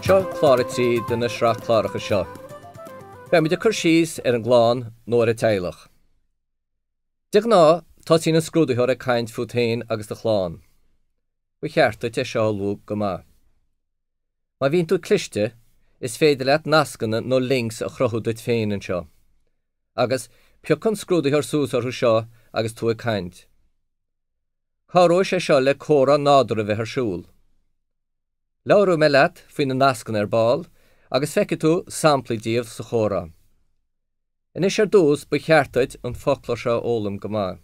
Seo clár a trí den tsraith cláracha seo. Beimid ag cur síos ar an gclann nó ar an teaghlach. De ghnáth, tosaíonn an scrúdaitheoir ag caint fút féin agus do chlann. Ba cheart duit é seo a ullmhú go maith. Má bhíonn tú cliste, is féidir leat nascanna nó links a chruthú duit féin anseo. Agus, piocann scrúdaitheoir suas orthu seo agus tú ag caint. Cabhróidh sé seo le comhrá nádúrtha a bheith ar siúl. Labhróidh mé leat faoi na nascanna ar ball, agus feicfidh tú samplaí díobh sa chomhrá. Anois ar dtús, ba cheart duit an foclóir seo a fhoghlaim go maith.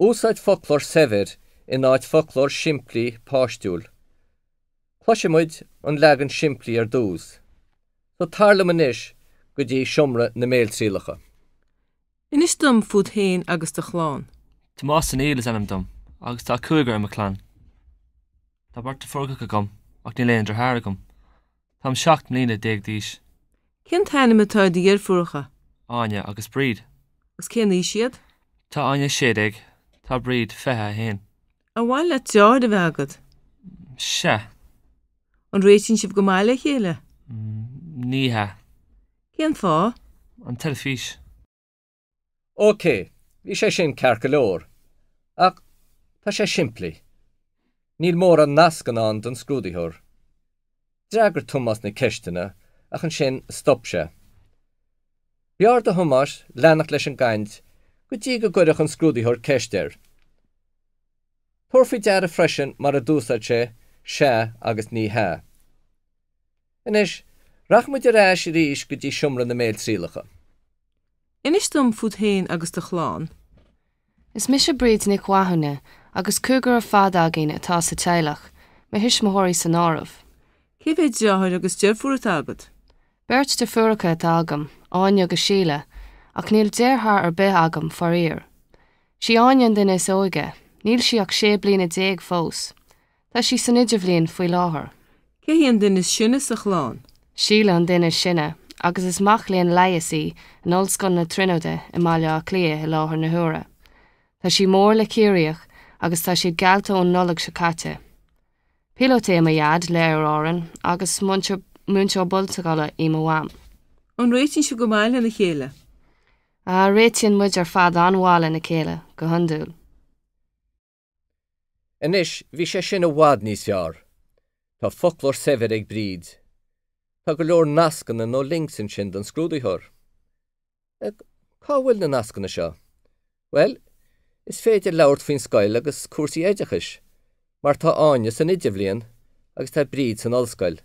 Úsáid foclóir saibhir in áit foclóir simplí páistiúil. Cloisimid an leagan simplí ar dtús, so tar liom anois go dtí seomra na mbéaltrialacha. Inis dom fút féin agus do chlann. Tomás Ó Néill is ainm dom agus tá cúigear i mo chlann. Tá beirt deirfiúracha agam ach níl aon deartháir agam. Táim seacht mbliana déag d'aois. Cén t-ainm atá ar do dheirfiúracha? Áine agus Bríd. Agus cén aois iad? Tá Áine a sé déag. Tá Bríd fiche a haon. Ar mhaith leat deartháir a bheith agat? Sea. An réitíonn sibh go maith le chéile? Ní hea. Cén fáth? An teilifís. OK, bhí sé sin ceart go leor, ach tá sé simplí. Níl mórán nascanna ann don scrúdaitheoir. D'fhreagair Tomás na ceisteanna ach ansin stop sé. B'fhearr do Thomás leanacht leis an gcaint go dtí go gcuirfeadh an scrúdaitheoir ceist air. Tabhair faoi deara freisin mar a d'úsáid sé 'sea' agus 'ní hea' Anois, rachaimid ar ais arís go dtí seomra na mbéaltrialacha. Inis dom fút féin agus do chlann. Is mise Bríd Nic Mhathúna agus cúigear ar fad againn atá sa teaghlach, mo thuismitheoirí san áireamh. Cé mhéad deartháir agus deirfiúr atá agat? Beirt deirfiúracha atá agam, Áine agus Síle, ach níl deartháir ar bith agam, faraor. Sí Áine an duine is óige, níl sí ach sé bliana déag fós. Tá sí san idirbhliain faoi láthair. Cé hí an duine is sine sa chlann? Síle an duine is sine, agus is mac léinn leighis í in Ollscoil na Tríonóide i mBaile Átha Cliath i láthair na huaire. Tá sí mór le Ciarraíoch, agus tá siad geallta ón Nollaig seo caite. Píolóta é mo Dhaid, le Aer Árann, agus múinteoir meánscoile í mo Mham. An réitíonn sibh go maith lena chéile? Ah, réitíonn muid ar fad an-mhaith lena chéile, go hiondúil. Anois, bhí sé sin i bhfad níos fearr. Tá foclóir saibhir ag Bríd. Tá go leor nascanna nó links ansin don scrúdaitheoir. Cá bhfuil na nascanna seo? Bhuel, is féidir labhairt faoin scoil agus cúrsaí oideachais, mar tá Áine san idirbhliain agus tá Bríd san ollscoil.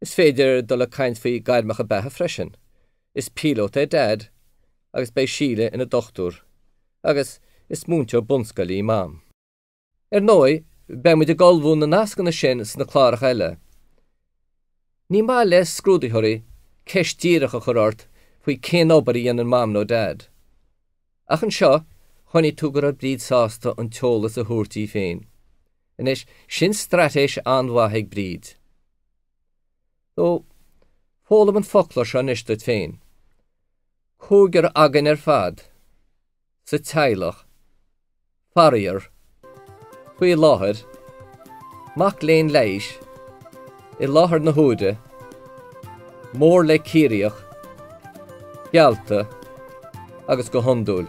Is féidir dul ag caint faoi gairmeacha beatha freisin. Is píolót é Dad agus beidh Síle ina dochtúir agus is múinteoir bunscoile í Mam. Ar ndóigh, beidh muid ag ullmhú na nascanna sin sna cláracha eile. Ní maith le scrúdaitheoirí ceist díreach a chur ort faoi cén obair a dhéanann Mam nó Dad. Ach anseo, chonaic tú go raibh Bríd sásta an t-eolas a thabhairt di féin. Anois, sin straitéis an-mhaith ag Bríd. So, foghlaim an foclóir seo anois duit féin. Cúigear againn ar fad sa teaghlach. Faraíor, faoi láthair, mac léinn leighis i láthair na huaire, mór le Ciarraíoch geallta agus go hiondúil.